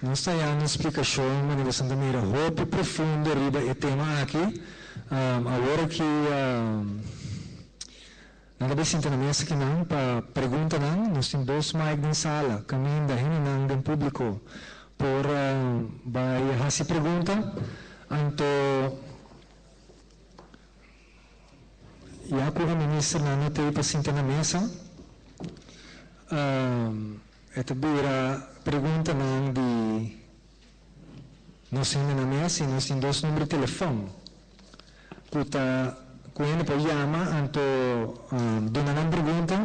Nos ta ya na splikashon manera esnan ta mira hopi profundo riba e tema aki. Awor aki nan ta bin sinta na mes aki nan pa preguntanan. Nos tin dos mic den sala kaminda hendenan den publico por bai hasi pregunta. Anto Ya ku e ministernan no ta ei pa sinta na mesa, e ta bira preguntanan di nos hende na mes i nos tin dos number di telefòn ku ta ku hende por yama anto duna nan pregunta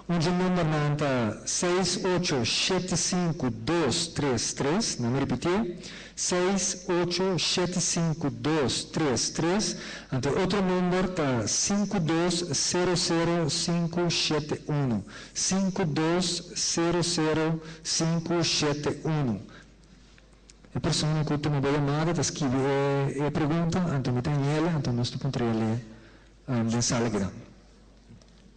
Un dje numbernan ta, seis, ocho, shete, sinku, dos, tres, tres. Na mi ripitié, seis, ocho, shete, sinku, dos, tres, tres. Anto otro number ta, sinku, dos, sero, sero, sinku, shete, unu. Sinku, dos, sero, sero, sinku, shete, unu. E persona ku tuma bo yamada ta skibi e pregunta, anto mi ta ñel, anto nos ta puntr'é alí den sala kidan.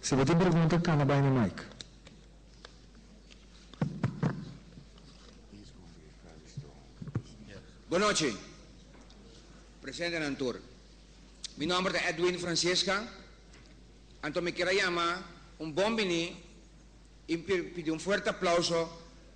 Si bo tin pregunta cana bay na mic. Good nochi presentenan tur. Mi nomber ta Edwin Francesca anto mi kier a yama un bon bini y pidi un fuerte aplauso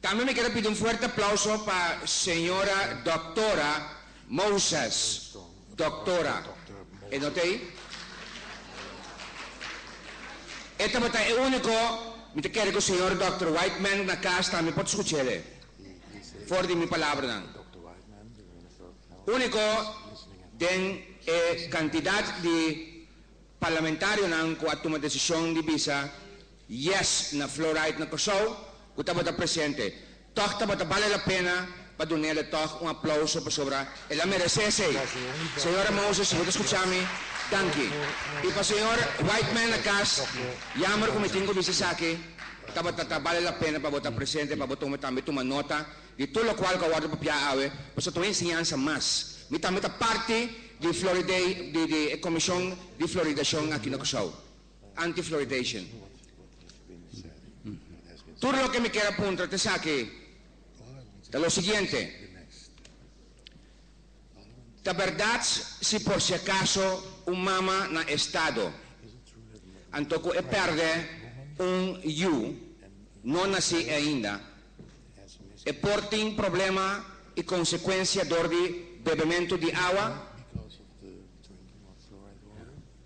Tambe mi keda pidi un fuerte aplauso pa señora Doctora Moses, Doctora, e no ta ei? E tabata e unico, mi ta kere cu señor Doctor Whiteman na cas tambe por ta scucha el e for di mi palabranan. Unico den e cantidad di parlamentarionan cu a tuma decision di bisa Yes na Fluoride na Kòrsou ku tabata presente. Tòg tabata bale la pena pa dun'ele tòg un aplauso pasobra el a meresé esei. Señora Moses, bo ta skuchá mi? Danki. I pa señor Whiteman na kas, yamber ku mi tin ku bisa esaki, tabata ta bale la pena pa bo ta presente pa bo tuma tambe tuma nota di tur lokual ku a wòrdu papiá awe, pasobra ta un enseñansa mas. Mi tambe ta parti di Floriday di di e komishon di floridashon aki na Kòrsou. Anti-fluoridation. Tur loke mi kier a puntra ta esaki, ta lo siguiente, Ta berdad si por si acaso un mama na estado anto cu e perde un yu no naci ainda, e por tin problema y consecuencia door di bebemento di awa?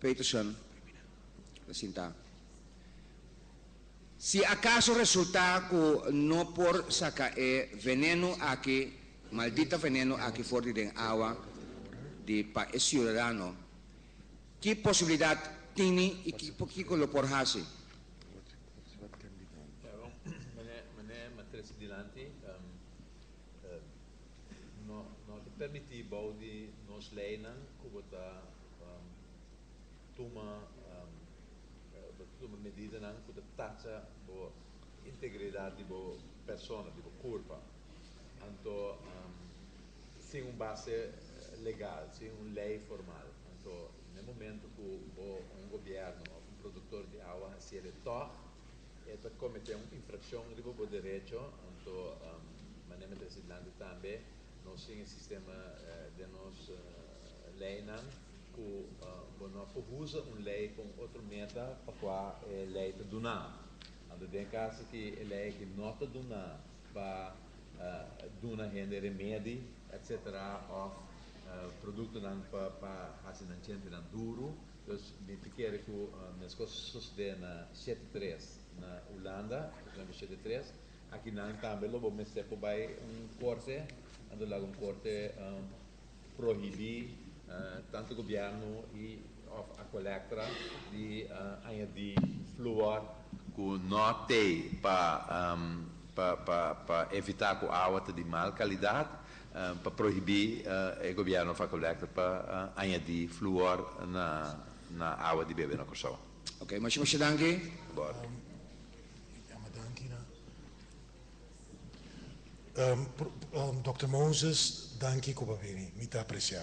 Peterson, ta sintá. Si akaso resultá ku no por saka e venenu aki, maldita venenu aki for di den awa di pa e siudadano, ki posibilidat tini i kiko lo por hasi? Mené Matres dilanti, no ta permití bou di nos leinan ku bo ta. tuma medidanan ku ta tacha bo integridat di bo persona, di bo kurpa, anto sin un base legal, sin un lei formal. Anto na e momento ku bo un gobièrnu òf un produktor di awa hasi el e tòg, e ta kometé un infrakshon riba bo derecho, anto manera mi trese dilanti tambe, Nos tin e sistema den nos leinan ku bo no por usa un lei pa un otro meta pa kua e lei ta duna. Anto den kaso ki e lei aki no ta duna pa duna hende remedi etc. Òf produktonan pa hasi nan chentenan duru. Dus mi ta kere ku meskos sosodé na shete tres na Hulanda, por ehempel shete tres, Aki nan tambe lo bo mester por bai un korte, nan lo laga un korte prohibí tantu gobièrnu i òf a kolèktra di añadí fluor, ku no te pa pa evitá ku awa ta di mal kalidat, pa prohibí e gobièrnu òf a kolèktra pa añadí fluor na awa di bebe na Kòrsou. Oke, muchu muchu danki. Bòrdi. Dòkter Moses, danki ku bo a bini. Mi ta apresiá.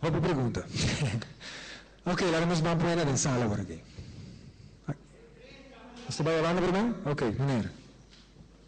Hopi pregunta. Oke, laga nos ban pone den sala por aki. Nos ta bai holando primer? Oke, meneer.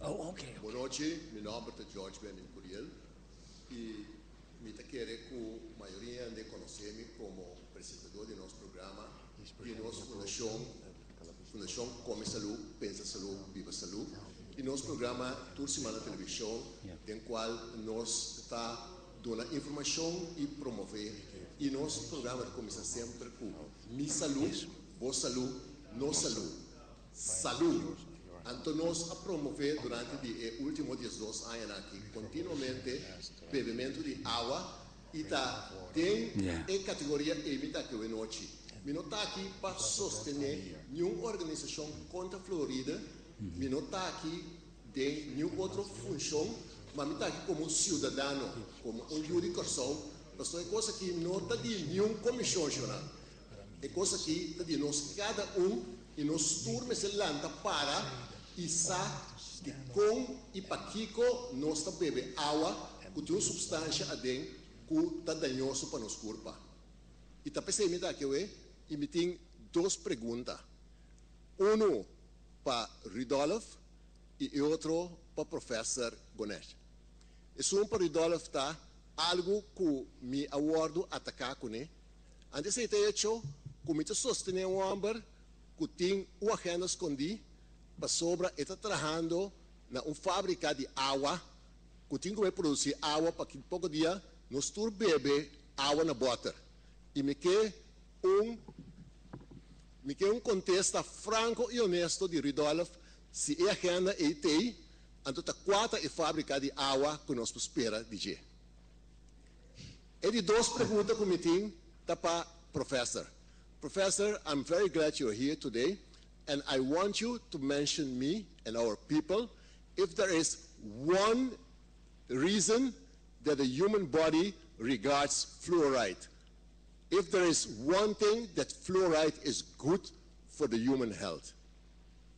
Oh ok ok. Bonochi, mi nomber ta George Benning Curiel y mi ta kere cu mayoria di hende conoce mi como presentador di nos programa di nos fundacion, Fundacion Come Salud, Pensa Salud, Biba Salud, y nos programa tur simana television den cual nos ta duna informacion y promove y nos programa ta cominsa semper cu Mi Salud, Bo Salud, Nos Salud. Salú. Anto nos a promové durante di e último diesdos añanan akí kontinuamente bebementu di awa i ta den e kategoria ei mi ta akí awe nochi. Mi no ta akí pa sostené niun organisashon kontra fluoride, mi no ta akí den niun otro funshon, ma mi ta akí komo un siudadano, komo un yu di Kòrsou, pasobra e kos akí no ta di niun komishon, shona. E kos aki ta di nos kada un i nos tur mester lanta para i sa dikon i pakiko nos ta bebe awa ku tin un supstansia aden ku ta dañoso pa nos kurpa. I ta p'esei mi ta aki awe i mi tin dos pregunta, unu pa Rudolf i e otro pa Profèser Bonnet. Esun pa Rudolf ta algu ku mi a wòrdu ataká kuné Antes di ta hecho cu mi ta sostene un homber cu tin un agenda scondí pasobra e ta trahando na un fabrica di awa cu tin cum'e produci awa pa ki poco dia nos tur bebe awa na boter y mi ke un mi ke un contesta franco y honesto di Rudolph si e agenda ey t'ey anto ta cua ta e fabrica di awa cu nos por spera di dje. E di dos pregunta ku mi tin ta pa Professor. Professor I'm very glad you're here today and I want you to mention me and our people if there is one reason that the human body regards fluoride if there is one thing that fluoride is good for the human health.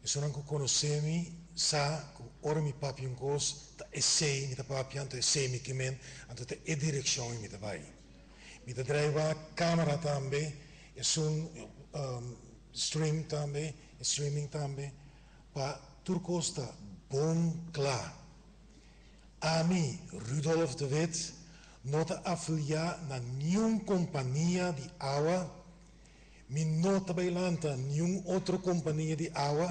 Personanan ku konosé mi sa ku ora mi papia un kos, ta esei mi ta papia, anto esei mi kimen, anto ta e direkshon ei mi ta bai. Mi ta draiba kamera tambe, esun stream tambe, streaming tambe, pa tur kos ta bon kla. Ami, Rudolf de Wit, no ta afiliá na niun kompania di awa Mi no ta bai lanta niun otro kompania di awa,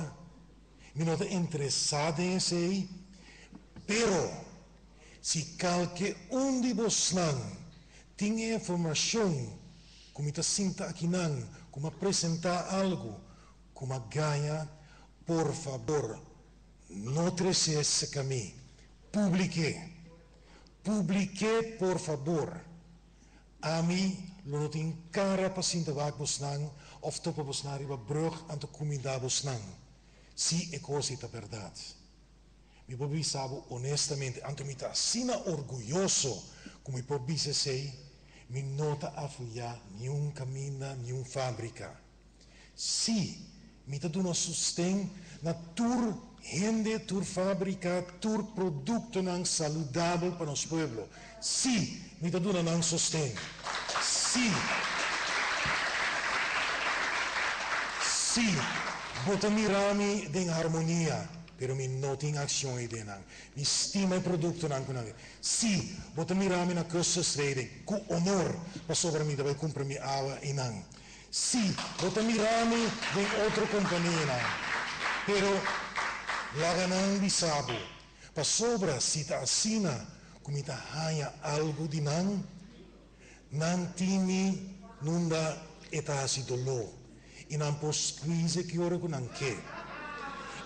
mi no ta interesá den esei. Pero, si kalke un di bosnan tin e informashon ku mi ta sinta akinan ku mi a presentá algu ku mi a gaña, por fabor no tres'é serka mi. Publik'é. Publik'é, por fabor. Ami lo no tin kara pa sinta wak bosnan of topa bosnan riba brug anto kuminda bosnan, si e kos ei ta bèrdat. Mi por bisa bo onestamente, anto mi ta asina orguyoso ku mi por bisa esei, mi no ta afuiá niun kaminda, niun fábrika. Sí, mi ta duna sosten na tur hende, tur fabrika, tur produktonan saludabel pa nos pueblo. Sí, mi ta duna nan sosten. Sí, sí, bo ta mira mi den harmonia, pero mi no tin akshon ei den nan. Mi stima e produktonan ku nan. Sí, bo ta mira mi na Custerstreden ku honor, pasobra mi ta bai kumpra mi awa i nan. Sí, bo ta mirá mi den otro kompanianan, pero laga nan bisa bo, pasobra si ta asina ku mi ta haña algu di nan, nan tin mi nunda e ta hasi doló i nan por skuize ki ora ku nan ke.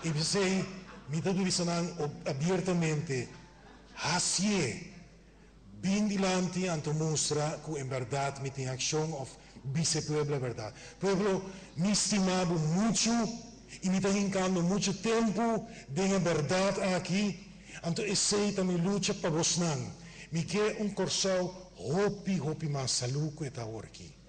I p'esei mi ta bisa nan abiertamente, Hasié Bin dilanti anto mustra cu en berdad mi tin accion of bis'e pueblo berdad. Pueblo, mi stima bo mucho y mi ta hincando mucho tempo den e berdad aki, anto esey ta mi lucha pa bosnan. Mi ke un Corsou hopi hopi mas salud cu e ta awor aki.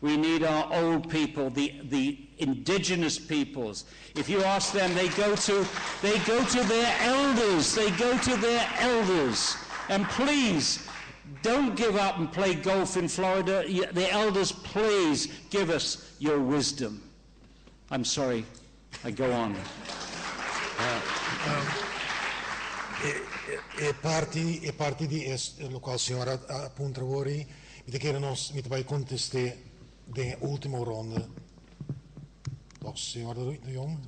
We need our old people, the the indigenous peoples. If you ask them, they go to they go to their elders, they go to their elders. And please, don't give up and play golf in Florida, the elders please give us your wisdom. I'm sorry I go on. E parti e parti di e locual señora a puntra wori mi ta kere nos mi ta bay conteste den e ultimo ronde toch señor de de Jong?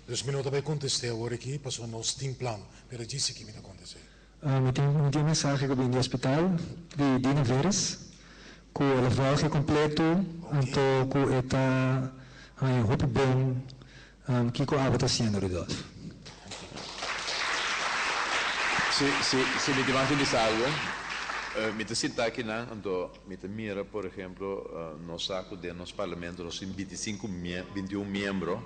Dus mi no ta bay conteste awor aki pasobra nos tin plan pero djis aki mi ta conteste. Mi tin mi tin un mensahe ku bin di hospital di Dina Veres ku el a volge kompletu hunto ku e ta haña un hopi bon kiko abo ta hasiendo Rudolf. Si si si mi tin mas di bisa algu mi ta sinta akinan hunto mi ta mira por ehemplo nos sa ku den nos parlamento nos tin binti sinku mie binti un miembro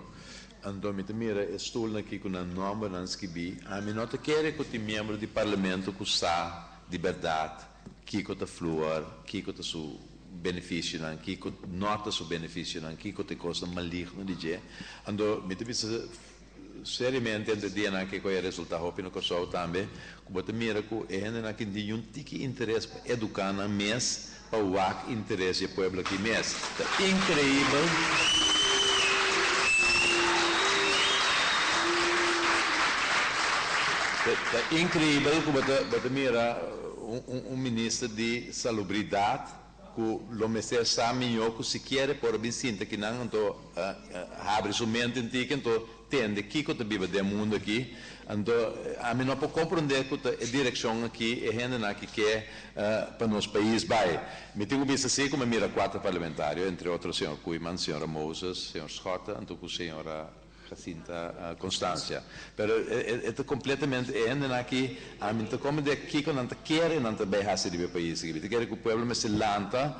Anto mi ta mira e stulnan ki ku nan nòmbernan skibí, ami no ta kere ku tin miembro di parlamento ku sa di bèrdat kiko ta fluor, kiko ta su benefisionan, kiko no ta su benefisionan, kiko ta e kosnan maligno di dje. Anto mi ta bisa seriamente entre dianan kiko e resultá hopi na Kòrsou tambe, ku bo ta mira ku e hendenan ki tin yun tiki interes pa eduká nan mes pa wak interes di e pueblo aki mes. Ta increibel ta increibel cu bo ta bo ta mira un minister di salubridad cu lo mester sa mijo cu sikier e por a bin sinta aki nan anto habri su mente in tiki anto tende kiko ta biba den mundu aki. Anto ami no por komprondé ku ta e direkshon aki e hendenan ki ke pa nos pais bai. Mi tin ku bista si ku mi a mira kuater parlamentario, entre otro señor Koeiman, señora Moses, señor Schotte anto ku señora Jacinta Constancia. Pero e ta kompletamente e hendenan aki ami no ta komprondé kiko nan ta kere nan ta bai hasi riba e pais aki. Mi ta kere ku pueblo mester lanta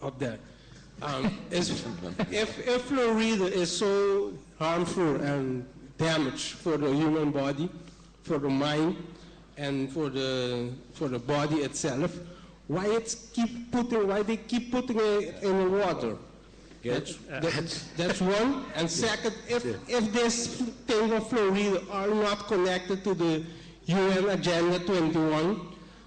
of that e fluoride e so harmful and damage for the human body for the mind and for the for the body et self why it keep putting why they keep putting e in the water that's one and second if if this ting of fluoride are not connected to the UN agenda twenty one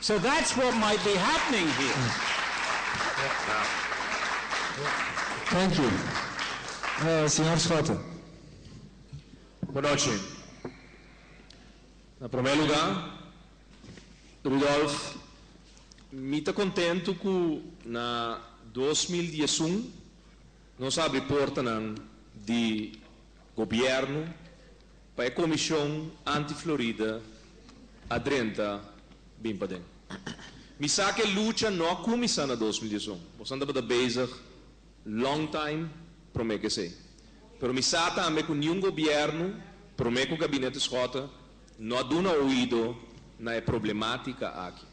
So that's what might be happening here. Thank you. Señor Schotten. Bo noche. Na prome luga, Rudolph, mi ta contento cu na dos mil diesun nos abri portanan di gobierno, Pa e Comision Anti Florida a drenta bin paden. Mi sa cu e lucha no a cumisa na dos mil diesun. Bosan tabata bezig long time prome cu esey. Pero mi sa tambe cu niun gobierno, prome cu Gabinete Schotten, no a duna oido na e problematica aki.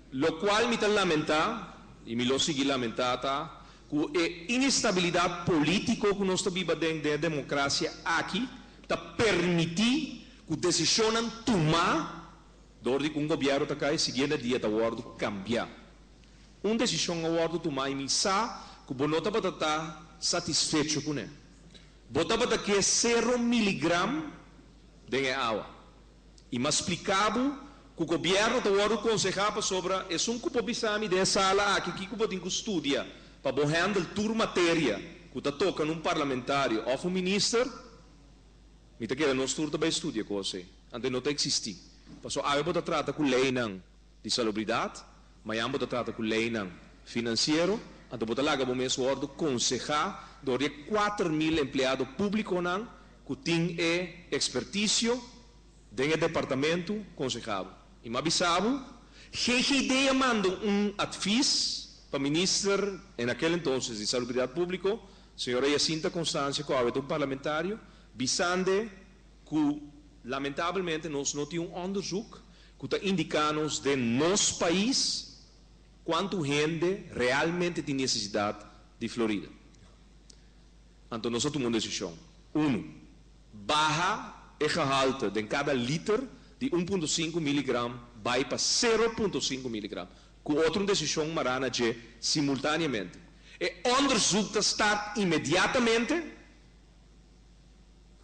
Locual mi ta lamenta, y mi lo sigui lamenta, ta Ku e inestabilidat polítiko ku nos ta biba den e demokrasia aki ta permití ku desishonnan tumá dor di ku un gobièrnu ta kai siguiente dia ta wòrdu kambiá. Un desishon a wòrdu tumá i mi sa ku bo no tabata ta satisfecho kuné. Bo tabata ke sero miligram den e awa. I m'a spliká bo ku gobièrnu ta wòrdu konsehá pasobra esun ku bo bisa mi den e sala aki kiko bo tin ku studia pa bo hèndel tur materia ku ta toka na un parlamentario òf un minister, mi ta kere nos tur ta bai studia kos ei, anto ei no ta eksistí. Pasó awe bo ta trata ku leinan di Salubridad, mañan bo ta trata cu leynan financiero, anto bo ta laga bo mes wordo conseha door di e kuater mil empleado publiconan cu tin e experticio den e departamento consehabo. Y ma bisa bo, GGD a manda un advies pa Minister en aquel entonces di Salubridad Publico, señora Jacinta Constancia cu awe ta un parlamentario, bisande, Cu lamentablemente nos no tin un onderzoek cu ta indica nos den nos pais cuantu hende realmente tin necesidad di Florida. Anto nos a tuma un decision. Uno, baha e gehalte den cada liter di un punto sinku miligram bay pa sero punto sinku miligram. Cu otro un decision mara na dje simultaneamente. E onderzoek ta start inmediatamente.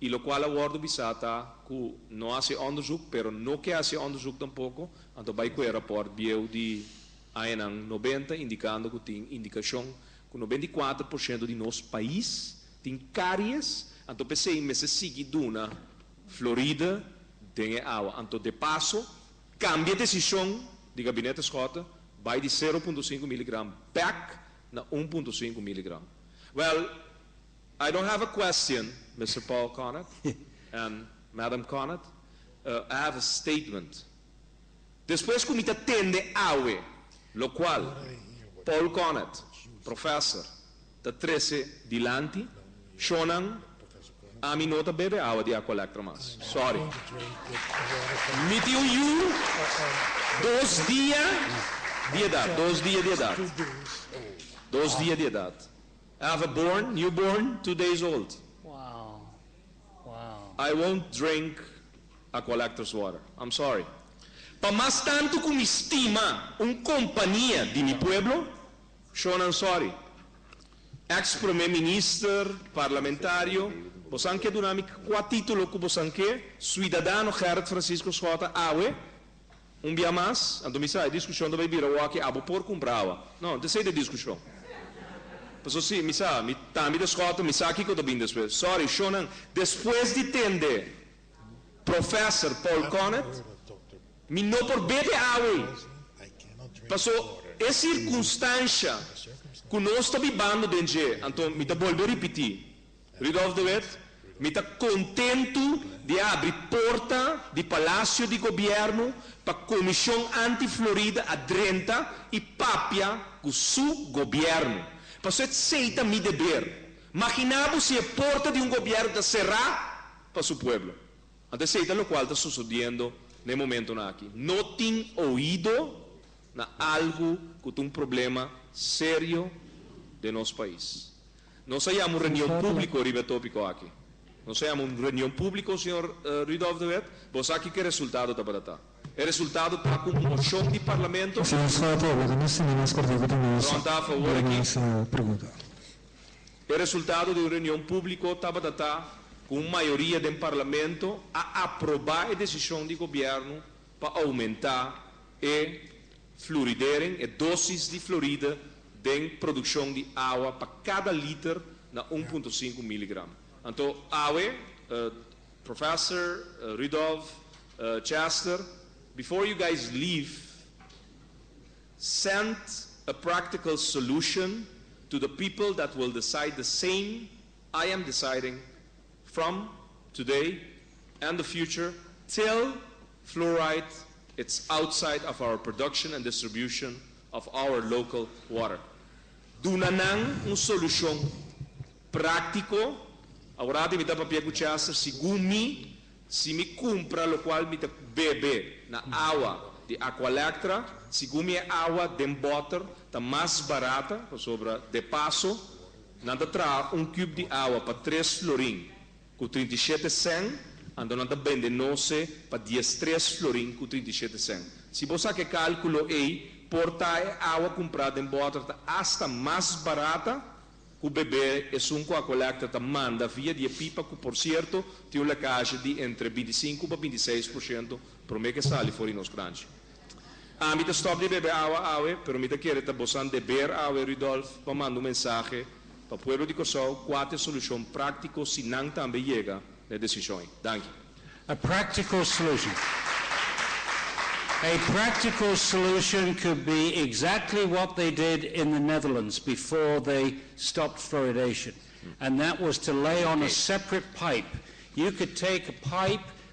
Y locual a wordo bisa ta cu no hace onderzoek, pero no ke hace onderzoek tampoco, anto bay cu e rapport bieu di añanan noventa indicando cu tin indicacion cu noventa y cuatro por ciento di nos pais tin caries, anto p'esey mester sigui duna floride den e awa. Anto de paso cambia decision di Gabinete Schotten bay di cero punto cinco miligram back na un punto cinco miligram. Well, I don't have a question, Mister Paul Conant and Madam Conant, I have a statement. Despues ku mi ta tende awe lokual Paul Conant, Professor, ta trese dilanti, shonnan, ami no ta bebe awa di Aqualectra mas. Sorry. Mi tin un yu dos dia di edat, dos dia di edat, dos dia di edat. I have a born, new born, two days old. I won't drink a collector's water. I'm sorry. Pa mas tantu ku mi stima un kompania di mi pueblo, Shonan sorry. Ex Prome Minister, Parlamentario, bosan ke duna mi kua titulo ku bosan ke, Suidadano Gerrit Francisco Schotten awe, Un bia mas, anto mi sa, e diskushon ta bai bira awaki, abo por kumpra awa. No, no ta esei ta e diskushon. Pasobra si mi sa, mi tambi ta skòt, mi sa kiko ta bini despues. Sòri, shownan. Despues di tende Professor Paul Connet, mi no por bebe awa ei, pasobra e sirkunstansha ku nos ta bibando den dje, anto mi ta bolbe ripití, Rudolph de Wit, Mi ta kontentu di abri porta di Palasio di Gobièrnu pa Komishon Anti Florida a drenta i papia ku su gobièrnu. Paso esei ta mi deber. Maginá bo si e porta di un gobièrnu ta será pa su pueblo. Anto esei ta lokual ta sosodiendo na e momentunan aki. No tin oido na algu ku ta un problema serio den nos pais. Nos a yama un reunion publico riba e topico aki. Nos a yama un reunion publico, señor Rudolph de Wet. Bo sa kiko e resultado tabata ta. E resultado ta cu un mocion di Parlamento. Señor Soto, lo cu nos tin den nos cortico ta nos dia mas pregunta. E resultado di un reunion publico tabata ta cu un mayoria den Parlamento a aproba e decision di Gobierno pa aumenta e. Fluoridering e dosis di floride den produccion di awa pa cada liter na un punto sinku miligram. Anto awe, Professor, Rudolph, Chester, before you guys leave, send a practical solution to the people that will decide the same I am deciding from today and the future till Fluoride, it's outside of our production and distribution of our local water. Duna nan un solucion practico, aworati mi ta papia cu Chester, segun mi, si mi cumpra locual mi ta bebe na awa di Aqualectra, segun mi e awa den botter ta mas barata, pasobra de paso nan ta traha un cube di awa pa tres florin. Ku trinta i shete sèn, anto nan ta bende noce pa dies tres florin ku trinta i shete sèn. Si bo saka e kalkulo ei, por ta e awa kumprá den bòter ta asta mas barata ku bebé esun ku a kolèkta ta manda via di e pipa ku por sierto tin un lekashi di entre binti sinku pa binti seis por shento promé ke sali for di nos kranchi. Ami ta stop di bebe awa awe, pero mi ta kere ta bosan deber awe, Rudolf, pa manda un mensahe pa pueblo di Kòrsou kua ta e solushon práktiko si nan tambe yega na e desishon ei. Danki. E práktiko solushon. E práktiko solushon could be exactly what they did in the Netherlands before they stopped fluoridation and that was to lay on a separate pipe. You could take a pipe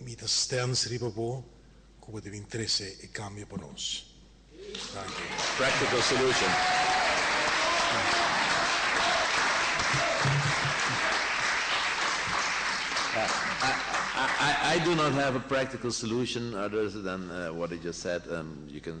Mi ta stens riba bo ku bo ta bin trese e kambio pa nos. Danki. Practical solution I do not have a practical solution other than what I just said, you can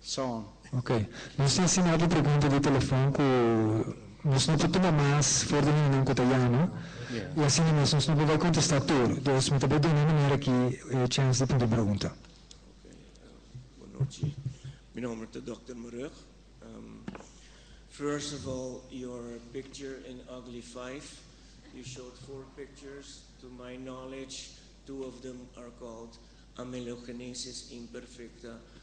Son. Ok. Nos tin siñal di pregunta di telefon ku nos no por tuma mas for di hendenan ku ta yama, i asina mes nos no por bai kontestá tur. Dus mi ta bai duna manera aki e chèns di punti pregunta. Ok. Bunochi. Mi nòmber ta Dòkter Marug. First of all, your picture in Ugly Five, you showed four pictures. To my knowledge, two of them are called Amelogenesis Imperfecta,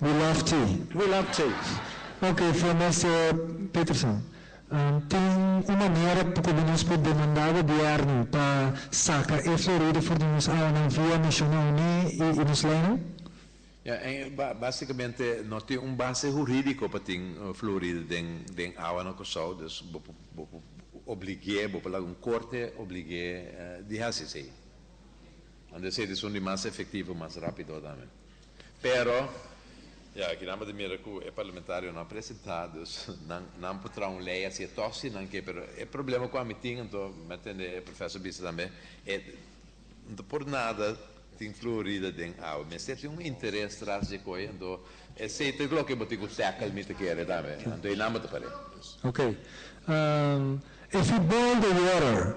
We love Jay. We love Jay. Ok, Flamester Peterson. Tin un manera komo nos por demanda gobièrnu pa saka e florida for di nos awanan via Nashona Uní i nos leinan? Ya, en básikamente no tin un base hurídiko pa tin florida den den awa na Kòrsou, dus bo por bo por oblig'é, bo por laga un korte oblig'é di hasi esei. Ande esei ta esun di mas efektivo, mas rápido tambe. Pero, ya, kinan bo ta mira cu e parlamentario no a presenta, dus nan, nan por traha un ley haci e tosi nan ke, pero e problema cu ami tin, anto mi a tende e professor bisa tambe, e, no ta por nada tin fluorida den awa, mester tin un interes tras dje coy, anto esey ta loke bo tin cu tackle mi ta kere tambe, anto eynan bo ta pare. Ok. Ehm, e futbol de water.